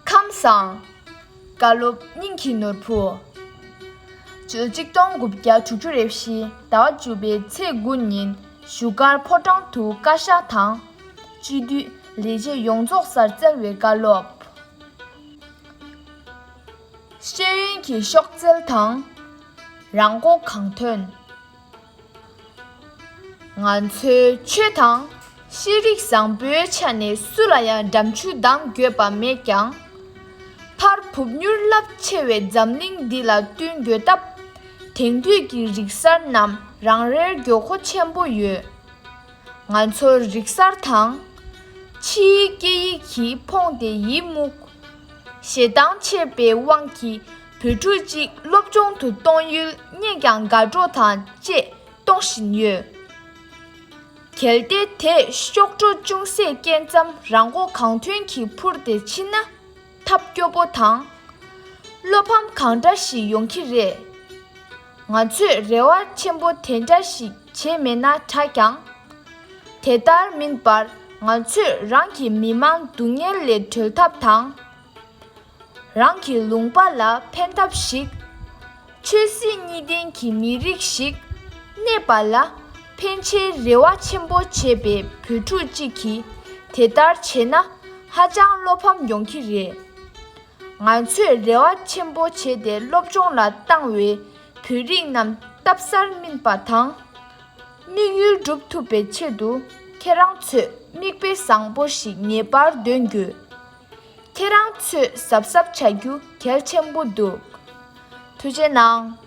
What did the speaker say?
ཁམས་བཟང། བཀའ་སློབ་སྙིང་གི་ནོར་བུ། བཅུ་གཅིག་སྟོང་དགུ་བརྒྱ་དྲུག་ཅུ་རེ་བཞི་ཟླ་བ་བཅུ་པའི་ཚེས་དགུ་ཉིན་བཞུགས་སྒར་ཕོ་བྲང་དུ་བཀའ་ཤག་དང། སྤྱི་འཐུས་ལས་བྱེད་ཡོངས་རྫོགས་སར་བསྩལ་བའི་བཀའ་སློབ། ཤེས་ཡོན་གྱི་ཤོག་རྩལ་དང། རང་མགོ་གང་ཐོན། ང་ཚོའི་ཆོས་དང་ཤེས་རིག་བཟང་པོའི་ཆ་ནས་སུ་ལ་ཡང་འགྲམ་ཆུ་ལྡང་འགྱོད་པ་མེད་ཀྱང། ཕར་ཕུབ་མྱུར་རླབས་ཆེ་བའི་འཛམ་གླིང་འདི་ལ་བསྟུན་འགྱོད་སྟབས། དེང་དུས་ཀྱི་རིག་གསར་རྣམས་རང་རེར་འགྱོད་མཁོ་ཆེན་པོ་ཡོད། ང་ཚོ་རིག་གསར་དང། ཕྱིའི་སྐད་ཡིག་གིས་ཕོངས་ཏེ་ཡིད་མུག། ཞེ་སྡང་ཆེ་བའི་དབང་གིས། བུ་ཕྲུག་གཅིག་སློབ་སྦྱོང་དུ་གཏོང་ཡུལ་རྙེད་ཀྱང་དགའ་སྤྲོ་དང་བཅས་གཏོང་བཞིན་ཡོད། གལ་ཏེ་དེས་གཤོག་སྒྲོ་ཅུང་ཟད་སྐྱེས་མཚམས་རང་མགོ་གང་ཐོན་གྱིས་འཕུར་ཏེ་ཕྱིན་ན། ཐབས་སྐྱོ་པོ་དང། བློ་ཕམ་གང་འདྲ་ཞིག་ཡོང་གི་རེད། ང་ཚོས་རེ་བ་ཆེན་པོ་དེ་འདྲ་ཞིག་བྱས་མེད་ན་དྲག་ཀྱང། དེ་ལྟར་མིན་པར་ང་ཚོས་རང་གི་མི་དམངས་སྡུག་བསྔལ་ལས་གྲོལ་ཐབས་དང། རང་གི་ལུང་པ་ལ་ཕན་ཐབས་ཤིག། ཆོས་སྲིད་གཉིས་ལྡན་གྱི་མི་རིགས་ཤིག་གནས་པ་ལ་ཕན་ཆེད་རེ་བ་ཆེན་པོ་བྱེད་པའི་བོད་ཕྲུག་ཅིག་གིས་དེ་ལྟར་བྱས་ན་ཧ་ཅང་བློ་ཕམ་ཡོང་གི་རེད། ང་ཚོས་རེ་བ་ཆེན་པོ་བྱས་ཏེ་སློབ་སྦྱོང་ལ་བཏང་བའི་བོད་རིགས་རྣམས་སྟབས་གསར་སྨིན་པ་དང། དམིགས་ཡུལ་འགྲུབ་ཐུབ་པའི་ཆེད་དུ་ཁྱེད་རང་ཚོས་མིག་དཔེ་བཟང་པོ་ཞིག་ངེས་པར་འདོན་དགོས། ཁྱེད་རང་ཚོས་གཟབ་གཟབ་བྱ་རྒྱུ་གལ་ཆེན་པོ་འདུག་ཐུགས་རྗེ་གནང།